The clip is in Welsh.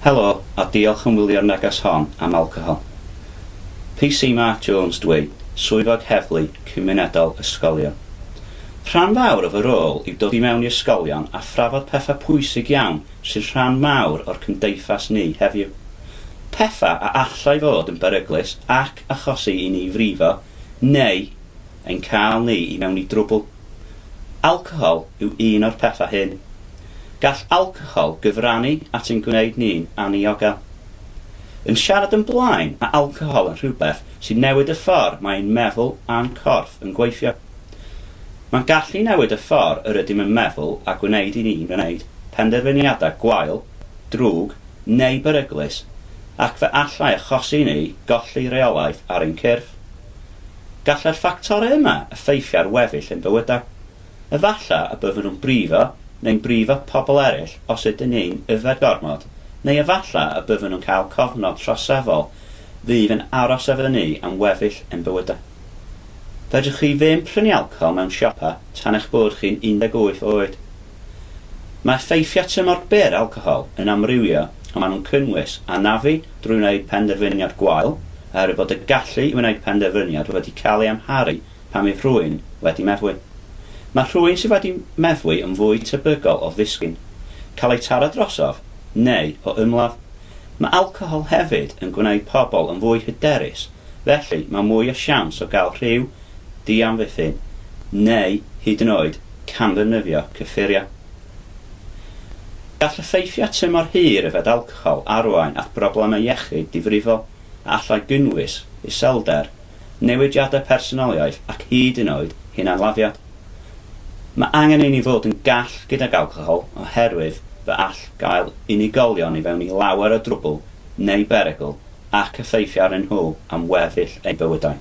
Helo a diolch yn wylio'r neges hon am alcohol. PC Mark Jones dw i, Swyddog Heddlu Cymunedol Ysgolion. Rhan fawr o fy rôl yw dod i mewn i ysgolion a thrafod pethau pwysig iawn sy'n rhan mawr o'r cymdeithas ni heddiw. Pethau a allai fod yn beryglus ac achosi i ni frifo neu ein cael ni i mewn i drwbl. Alcohol yw un o'r pethau hyn. Gall alcohol gyfrannu at ein gwneud ni'n anniogel. Yn siarad yn blaen, mae alcohol yn rhywbeth sy'n newid y ffordd mae ein meddwl a'n corff yn gweithio. Mae'n gallu newid y ffordd yr ydym yn meddwl a gwneud i ni'n gwneud penderfyniadau gwael, drwg neu beryglus ac fe allai achosi i ni golli rheolaeth ar ein cyrff. Gallai'r ffactorau yma effeithio ar weddill ein bywydau. Efallai y byddwn yn brifo neu'n brifo pobl eraill os ydyn ni'n yfed gormod, neu efallai y byddwn yn cael cofnod troseddol fydd yn aros efo ni am weddill ein bywydau. Fedrwch chi ddim prynu alcohol mewn siopau tan eich bod chi'n 18 oed. Mae effeithiau tymor byr alcohol yn amrywio ond maen nhw'n cynnwys anafu drwy wneud penderfyniad gwael oherwydd bod y gallu i wneud penderfyniad wedi cael ei amharu pan fydd rhywun wedi meddwi. Mae rhywun sydd wedi meddwi yn fwy tebygol o ddisgyn, cael eu taro drosof neu o ymladd. Mae alcohol hefyd yn gwneud pobl yn fwy hyderus felly mae mwy o siawns o gael rhyw ddiamddiffyn neu hyd yn oed camddefnyddio cyffuriau. Gall effeithiau tymor hir yfed alcohol arwain at broblemau iechyd difrifol a allai gynnwys iselder, newidiadau personoliaeth ac hyd yn oed hunanladdiad. Mae angen i ni fod yn gall gydag alcohol oherwydd fe all gael unigolion i fewn i lawer o drwbl neu berygl ac effeithio arnyn nhw am weddill eu bywydau.